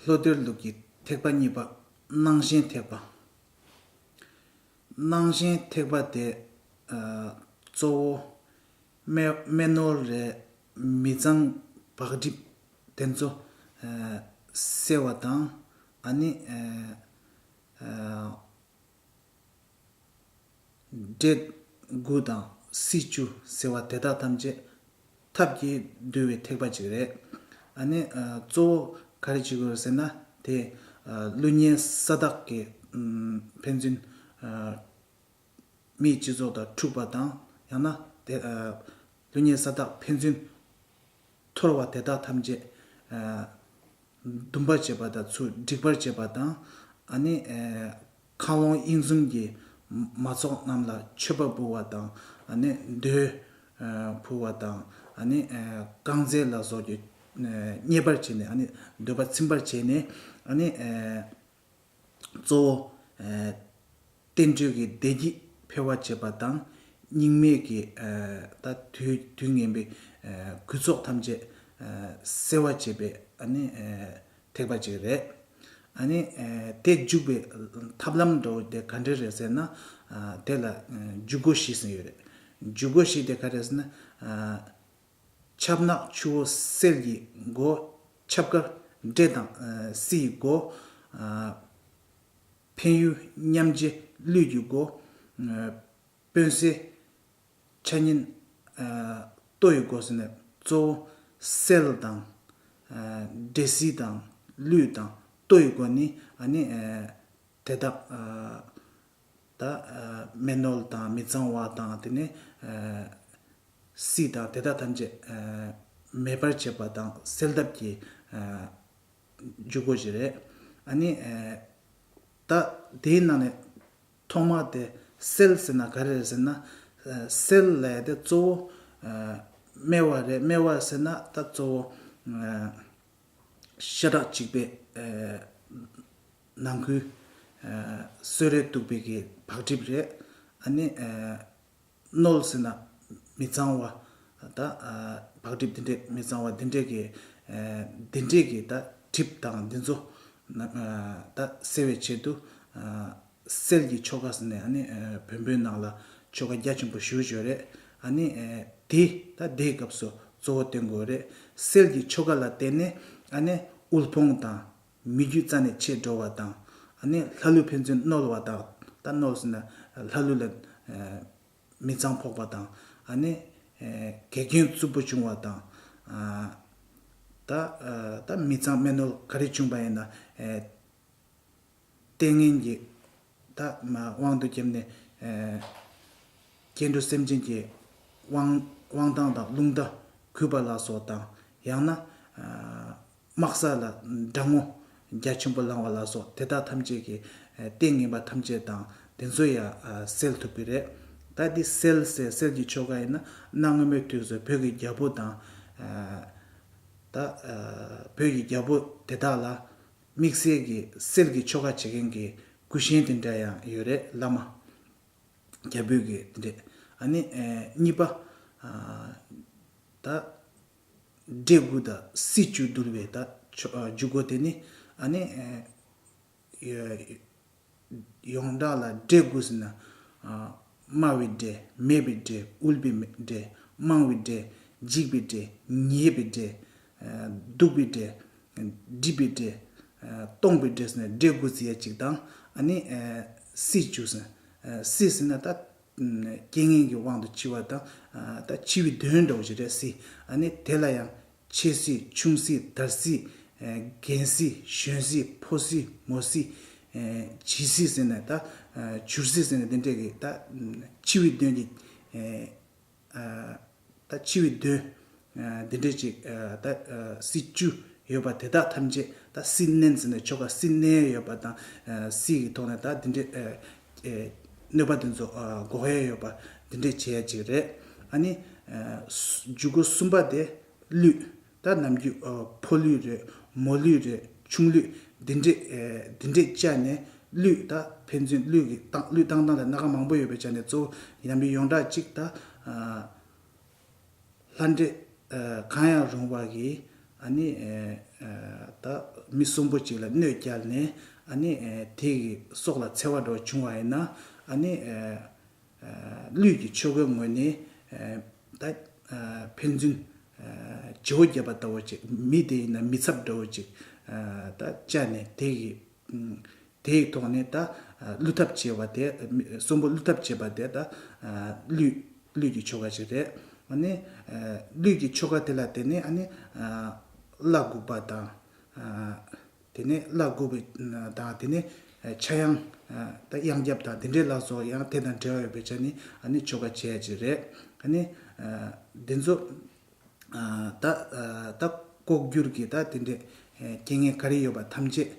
ལྷོ་གཏེར་ལུགས་ཀྱི་ཐེག་པ་གཉིས་པ་སྣང་ཞེན་ཐེག་པ། སྣང་གཞན་ཐེག་པ་དེ་གཙོ་བོ། སྨན་ནོར་རས་མི་གཙང་བག་སྒྲིབ་དེ་ཚོ་སེལ་བ་དང། ཨ་ནི། འབྲས་དགུ་དང་བསིལ་ཆུ་ཟེར་བ་དེ་དག་ཐམས་ཅད། ཐབས་ཀྱིས་བསྡུས་བའི་ཐེག་པ་ཅིག་རེད། ཨ་ནི། གཙོ་བོ་ག་རེ་བྱེད་དགོས་རེད་ཟེར་ན་དེ། ཀླུ་གཉན་ས་བདག་གིས། ཕན་ཚུན། མིའི་སྤྱི་ཚོགས་དང་འཁྲུག་པ་དང་ཡང་ན། ཀླུ་གཉན་ས་བདག་ཕན་ཚུན། འཐོར་བ་དེ་དག་ཐམས་ཅད། འདུམ་པར་བྱེད་པ་དང་ཚུར་སྒྲིག་པར་བྱེད་པ་དང། ཨ་ནི། མཁའ་ཀློང་དབྱིངས་གསུམ་གྱི། མ་ཚོགས་རྣམས་ལ་མཆོད་པ་འབུལ་བ་དང། འདོད། ཕུལ་བ་དང། བསྐང་རྫས་ལ་སོགས་ཀྱིས། མཉེས་པར་བྱས་ནས། འདོད་པ་ཚིམ་པར་བྱས་ནས། གཙོ་བོ། བསྟན་བཅོས་ཀྱི་བདེ་སྐྱིད་འཕེལ་བར་བྱེད་པ་དང། སྙིགས་མེད་ཀྱི། དུས་ངན་པའི། རྒུད་ཚོགས་ཐམས་ཅད། སེལ་བར་བྱེད་པའི། ཐེག་པ་ཅིག་རེད། ཨ་ནི། དེ་འཇུག་པའི་ཐབས་ལམ་འདྲ་བོ་དེ་ག་འདྲས་རེད་ཟེར་ན། དེ་ལ་འཇུག་སྒོ་བཞི་ཟེར་ཡོད་རེད། འཇུག་སྒོ་བཞི་དེ་ག་རེད་ཟེར་ན། ཆབ་ནག་ཆུ་བོ་སེལ་གྱི་སྒོ། ཆབ་དཀར་འབྲས་དང་བསིལ་ཡི་སྒོ། འཕན་ཡུལ་མཉམ་རྗེས་རླུད་གྱི་སྒོ། དཔོན་སེལ། འཆར་ཉེན། ལྟོ་ཡི་འགོ་ཟས་ནི་གཙོ་བོ། སེལ་དང། འདྲེ་སྲི་དང། ལུས་དང། ལྟོ་ཡི་འགོ་ནི། དེ་དག། མེ་རྣོལ་དང་མི་གཙང་བ་དང་དེ་ནས། སྲི་དང་དེ་དག་ཐམས་ཅད། མེད་པར་བྱེད་པ་དང་སེལ་ཐབས་ཀྱི། འཇུག་སྒོ་ཞིག་རེད། ད་དེའི་ནང་ནས། ཐོག་མ་དེ་སེལ་ཟེར་ན་ག་རེ་རེད་ཟེར་ན། སེལ་ལས་དེ་གཙོ་བོ་སྨེ་བ་རེད་སྨེ་བ་ཟེར་ན་ད་གཙོ་བོ་ཤ་ཁྲག་གཅིག་པའི་ནང་ཁུལ་གསོད་རེས་གཏུག་པའི་གི་བག་གྲིབ་རེད་ཨ་ནི། རྣོལ་ཟེར་ན་མི་གཙང་བ། ད་བག་གྲིབ་འདི་འདྲས་མི་གཙང་བ་འདི་འདྲས་ཀྱི། འདི་འདྲས་ཀྱི་ད་གྲིབ་དང་འདི་ཚོ། ད་སེལ་བའི་ཆེད་དུ། སེལ་གྱི་ཆོ་ག་ཟེར་ནས་ནི་བོན་པོའི་ནང་ལ་ཆོ་ག་རྒྱ་ཆེན་པོ་ཞུ་བཞོན་རེད། ནི་དེ་ད་དེའི་སྐབས་སུ་གཙོ་བོ་བསྟེན་དགོས་རེད། སེལ་གྱི་ཆོ་ག་ལ་བརྟེན་ནས་ནི་དབུལ་ཕོངས་དང། མི་རྒྱུད་རྩ་ནས་ཆད་འགྲོ་བ་དང། ནི་ལྷ་ཀླུ་ཕན་ཚུན་བསྣོལ་བ་དག། ད་བསྣོལ་ཟིན་ན་ལྷ་ཀླུ་ལ། མི་གཙང་ཕོག་པ་དང། ནི། གེགས་རྐྱེན་རྩུབ་པོ་བྱུང་བ་དང། ད། ད་མི་གཙང་སྨན་བསྣོལ་ག་རེ་བྱུང་བ་ཡིན་ན། ལྟས་ངན་གྱི། དག། དབང་དུ་བསྐྱེད་ནས། སྐྱེ་འགྲོ་སེམས་ཅན་གྱི། དབང་དབང་ཐང་དང་རླུང་རྟ། གུས་པ་ལ་སོགས་དང། ཡང་ན། དམག་ས་ལ། སྦྲང་ངོ། རྒྱ་ཆེན་པོ་ལང་བ་ལ་སོགས་དེ་དག་ཐམས་ཅད་ཀྱི། ཏིང་ངེ་འབའ་ཐམས་ཅད་དང་དེ་ཚོ་ཡང་སེལ་ཐུབ་ཀྱི་རེད། ད་འདི་སེལ་སེལ་སེལ་གྱི་ཆོ་ག་ཡིན་ན། གནའ་སྔ་མོའི་དུས་སུ་བོད་ཀྱི་རྒྱལ་པོ་དང། ད། བོད་ཀྱི་རྒྱལ་པོ་དེ་དག་ལ། དམིགས་བསལ་གྱི་གསེར་གྱི་ཆོ་ག་བྱེད་མཁན་གྱི་གུས་ཞེན་དེ་འདྲ་ཡང་ཡོད་རེད་བླ་མ། རྒྱ་བོད་ཀྱི་དེ་འདྲས་ཨ་ནི། གཉིས་པ། ད། འདྲེ་དགུ་དང་སྲིད་བཅུ་འདུལ་བའི་ད། འཇུག་སྒོ་དེ་ནི་ཨ་ནི། ཡོངས་གྲགས་ལ་འདྲེ་དགོས་ཟེར་ན། དམའ་བའི་འདྲེ། མེད་པའི་འདྲེ། དབུལ་པའི་འདྲེ། དམངས་བའི་འདྲེ། འཇིགས་པའི་འདྲེ། ཉེས་པའི་འདྲེ། སྡུག་པའི་འདྲེ། སྒྲིབ་པའི་འདྲེ། སྟོང་པའི་འདྲེ་ཟེར་ན་འདྲེ་དགུ་ཟེར་ཡ་གཅིག་དང། ཨ་ནི། སྲིད་བཅུ་ཟེར། སྲིད་ཟེར་ན་ད། རྐྱེན་ངན་གྱི་དབང་དུ་འཆི་བ་དང། ད་འཆི་བའི་དོན་འགྲོ་བ་བཞི་རེད་སྲིད། ཨ་ནི་དེ་ལ་ཡང། ཆེ་སྲིད་ཆུང་སྲིད་དར་སྲིད། རྒན་སྲིད་གཞོན་སྲིད་ཕོ་སྲིད་མོ་སྲིད། བྱི་སྲིད་ཟེར་ནས་ད། བྱུར་སྲིད་ཟེར་ནས་དེ་འདྲས་ཀྱི་ད། ཕྱི་བའི་དོན་གྱི། ད་ཕྱི་བའི་དོན། དེ་འདྲས་ཅིག་ད། སྲིད་བཅུ་ཡོད་པ་དེ་དག་ཐམས་ཅད་ད་སྲིད་བསྣན་ཟེར་ནས་ཆོ་ག་སྲིད་བསྣན་ཡོད་པ་དང། སྲིད་ཀྱི་ཐོག་ནས་ད་དེ་འདྲས། གནོད་པ་དེ་ཚོ་འགོག་ཡས་ཡོད་པ་འདི་འདྲས་བྱེད་ཡས་ཅིག་རེད་ཨ་ནི། འཇུག་སྒོ་གསུམ་པ་དེ་ལུས། ད་ནམ་རྒྱུན་ཕོ་ལུས་རེད་མོ་ལུས་རེད་ཆུང་ལུས་འདི་འདྲས་འདི་འདྲས་བཅས་ནས་ལུས་ད་ཕན་ཚུན་ལུས་ཀྱི་སྟངས་ལུས་སྟངས་སྟངས་ལ་སྣ་ཁ་མང་པོ་ཡོད་པའི་ཆ་ནས་གཙོ་བོ་ཡང་མི་ཡོངས་གྲགས་གཅིག་ད། ལྷ་འདྲེ། གང་ཡང་རུང་བ་གིས་ད་མི་གསུམ་པོ་ཅིག་ལ་གནོད་བསྐྱལ་ནས་དེ་ཡི་སྲོག་ལ་འཚེ་བ་འགྲོ་བྱུང་བ་ཡིན་ན། ལུས་ཀྱི་ཆོ་གའི་ངོས་ནས་ད་ཕན་ཚུན་བྱེའུ་བརྒྱབ་པ་ལྟ་བུ་ཅིག་མི་དེ་ཡིན་ན་མི་ཚབ་འདྲ་བོ་ཅིག་ད་བཅའ་ནས་དེ་ཡི་དེའི་ཐོག་ནས་ད་བསླུ་ཐབས་བྱས་བ་དེ་གསུམ་པོ་བསླུ་ཐབས་བྱས་པ་དེ་ད་བསླུས་ཀྱི་ཆོ་ག་ཞིག་རེད། ཨ་ནི་བསླུས་ཀྱི་ཆོ་ག་དེ་ལ་དེ་ནས་ཨ་ནི་བླ་དགུག་པ་དང། དེ་ནས་བླ་དགུག་པའི་དང་དེ་ནས་ཕྱྭ་གཡང་ད་གཡང་སྐྱབས་དང་དེ་འདྲའི་ལ་སོགས་ཡང་དེ་དང་འབྲེལ་བ་ཡོད་པའི་ཆ་ནས་ཨ་ནི་ཆོ་ག་བྱས་ཅིག་རེད། ཨ་ནི་དེ་ཚོ་ད་ལྐོག་གྱུར་གྱི་ད་དེ་འདྲའི་རྐྱེན་ངན་ག་རེ་ཡོད་པ་ཐམས་ཅད་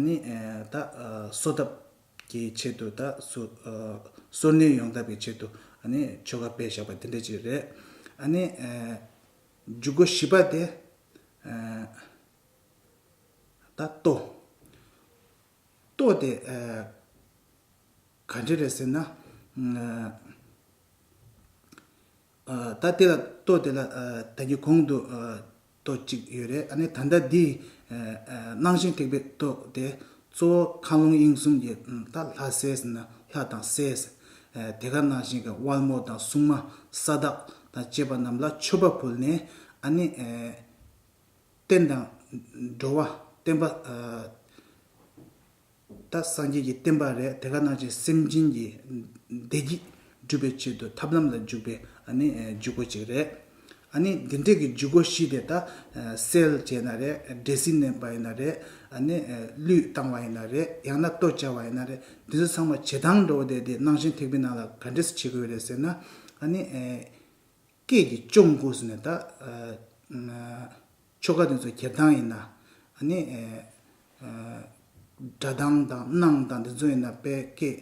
ནི་ད་གསོ་ཐབས་ཀྱི་ཆེད་དུ་ད་གསོ་གསོ་ནུས་ཡོང་ཐབས་ཀྱི་ཆེད་དུ་ནི་ཆོ་ག་སྤེལ་བཞག་པ་དེ་འདྲ་ཅིག་རེད། ནི་འཇུག་སྒོ་བཞི་པ་དེ་ད་ལྟོ། ལྟོ་དེ་ག་འདྲ་རེད་ཟེར་ན། ད་དེ་ལ་ལྟོས་དེ་ལ་ད་གི་གོང་དུ་ལྟོས་ཅིག་ཡོད་རེད་ཨ་ནི་ད་ལྟ་འདི་སྣང་ཞིང་ཐེག་པའི་ལྟོས་དེ་གཙོ་བོ་མཁའ་ཀློང་དབྱིངས་གསུམ་གྱི་ད་ལྷ་སྲས་ན་ལྷ་དང་སྲས་དེ་ག་ནང་བཞིན་གྱི་དབལ་མོ་དང་སྲུང་མ་ས་བདག་དང་བཅས་པ་རྣམས་ལ་མཆོད་པ་ཕུལ་ནས་ཨ་ནི་བསྟན་དང་འགྲོ་བ་བསྟན་པ། ད་སངས་རྒྱས་ཀྱི་བསྟན་པ་རེད་དེ་ག་ནང་བཞིན་སེམས་ཅན་གྱི་བདེ་སྐྱིད་སྒྲུབ་པའི་ཆེད་དུ་ཐབས་ལམ་ལ་འཇུག་པའི་ཇུས་འགོད་ཅིག་རེད། འདི་འདྲས་ཀྱི་ཇུས་འགོད་བཞི་དེ་དག་སེལ་བྱས་ན་རེད་སྦྲེལ་ཟིང་བསྣན་པ་ཡིན་ན་རེད། གླུད་བཏང་བ་ཡིན་ན་རེད་ཡང་ན་ལྟོ་སྦྱར་བ་ཡིན་ན་རེད་འདི་ཚོ་ཚང་མ་བྱེ་ཐང་འདྲ་བོ་དེ་དེ་ནང་བཞིན་ཐེག་པའི་ནང་ལ་ག་འདྲས་སུ་བྱེད་དགོས་རེད་ཟེར་ན། སྐད་ཀྱི་གཅོང་སྐུ་ཟེར་ནས་ད། ཆོ་ག་དེ་ཚོ་གྱེར་སྟངས་ཡིན་ན། ནི། སྒྲ་གདངས་དང་སྣང་དང་དེ་ཚོ་ཡིན་ན་དཔེ་སྐད།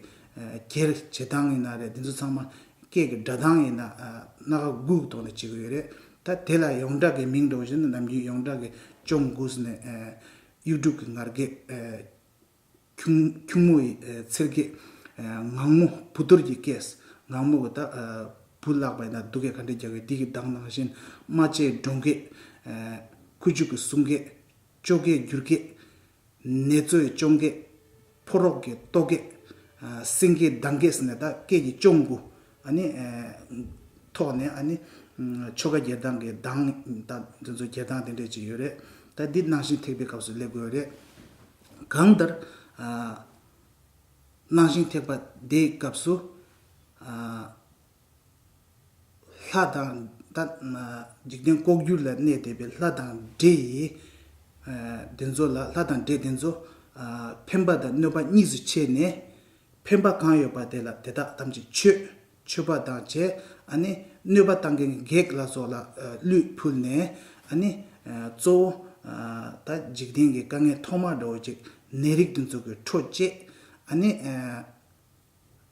གྱེར་བྱེད་སྟངས་ཡིན་ན་རེད་དེ་ཚོ་ཚང་མ་སྐད་ཀྱི་སྒྲ་གདངས་ཡིན་ན། སྣ་ཁ་སྒུག་ཐོག་ནས་བྱེད་གི་ཡོད་རེད། ད་དེ་ལ་ཡོངས་གྲགས་ཀྱི་མིང་འདོགས་བཞིན་དུ་ནམ་རྒྱུན་ཡོངས་གྲགས་ཀྱི་ཅོང་གུས་ནས། གཡུ་འབྲུག་གི་ངར་སྐད། ཁྱུང་མོ་ཡི་ཚེར་སྐད། ངང་མོ་བུ་རྡོར་གྱི་སྐད། ངང་མོ་གི་ད་བུ་བརླག་པའི་ན་སྡུག་སྐད་ག་འདྲའི་རྒྱག་གི་དིག་གི་གདངས་ནང་བཞིན་རྨ་བྱའི་སྒྲོང་སྐད། ཁུ་བྱུག་གི་སྲུང་སྐད། ཅོ་ཀའི་སྒྱུར་སྐད། ནེ་ཙོའི་ཅོང་སྐད། ཕོ་རོག་གི་ལྟོ་སྐད། སེང་གེའི་གདངས་སྐད་ཟེར་ནས་ད་སྐད་ཀྱི་ཅོང་དགུ་ནི་ཐོག་ནས་ཨ་ནི་ཆོ་ག་རྒྱལ་གདངས་ཀྱི་གདངས་ད་དེ་ཚོ་རྒྱལ་གདངས་དེ་འདྲས་ཅིག་ཡོད་རེད། ད་འདི་ནང་བཞིན་ཐེག་པའི་སྐབས་སུ་སླེབས་དགོས་རེད། གང་ལྟར། སྣང་ཞིང་ཐེག་པ་བརྡའི་སྐབས་སུ། ལྷ་དང། འཇིག་རྟེན་ལྐོག་གྱུར་ལ་གནས་བསྡད་པའི་ལྷ་དང་འདྲེ་ཡི། དེ་ཚོ་ལ་ལྷ་དང་འདྲེ་དེ་ཚོ། ཕན་པ་དང་གནོད་པ་གཉིས་སུ་ཕྱེ་ནས། ཕན་པ་གང་ཡོད་པ་དེ་ལ་དེ་དག་ཐམས་ཅད་མཆོད། མཆོད་པ་དང་བཅས་གནོད་པ་བཏང་མཁན་བགེགས་ལ་སོགས་ལ་གླུད་ཕུལ་ནས། གཙོ་བོ། ད་འཇིག་རྟེན་གྱི་དཀའ་ངལ་ཐོག་མར་འདྲ་བོ་ཅིག་ནད་རིགས་འདི་ཚོ་གི་འཕྲོ་བཅད།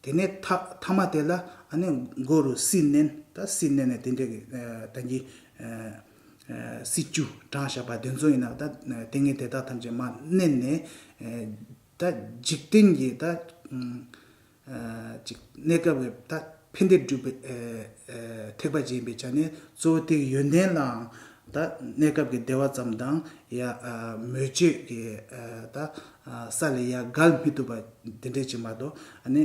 དེ་ནས་ཐ་མ་དེ་ལ་མགོ་རུ་སྲི་མནན། ད་སྲི་མནན་ནས་དེ་འདྲ་གི་ད་གྱི། སྲི་ཆུ་གྲང་ཞགས་པ་དེ་ཚོ་ཡིན་ནམ་ད་ལྟས་ངན་དེ་དག་ཐམས་ཅད་མ་མནན་ནས། ད་འཇིག་རྟེན་གྱི་ད། གཅིག། གནས་སྐབས་ཀྱི་ཐ་འཕེན་སྡེབ་སྒྲུབ་པའི་ཐེག་པ་ཅན་པའི་ཆ་ནས་གཙོ་བོ་ཐེག་ཡོན་ཏན་ལའང་ད་གནས་སྐབས་ཀྱི་བདེ་བ་ཙམ་དང་ཡང་མོས་སྤྱོད་ཀྱི་ད་ས་ལས་ཡང་བརྒལ་མི་ཐུབ་པ་དེ་འདྲའི་ཅིག་མ་གཏོགས་ནི་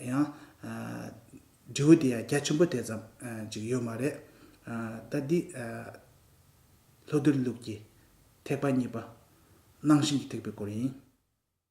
ཡང་འབྲས་བུ་དེ་ཡང་རྒྱ་ཆེན་པོ་དེ་ཙམ་ཅིག་ཡོད་མ་རེད། ད་འདི་ལྷོ་རྡུལ་ལུགས་ཀྱི་ཐེག་པ་གཉིས་པ་སྣང་ཞེན་གྱི་ཐེག་པའི་སྐོར་ཡིན།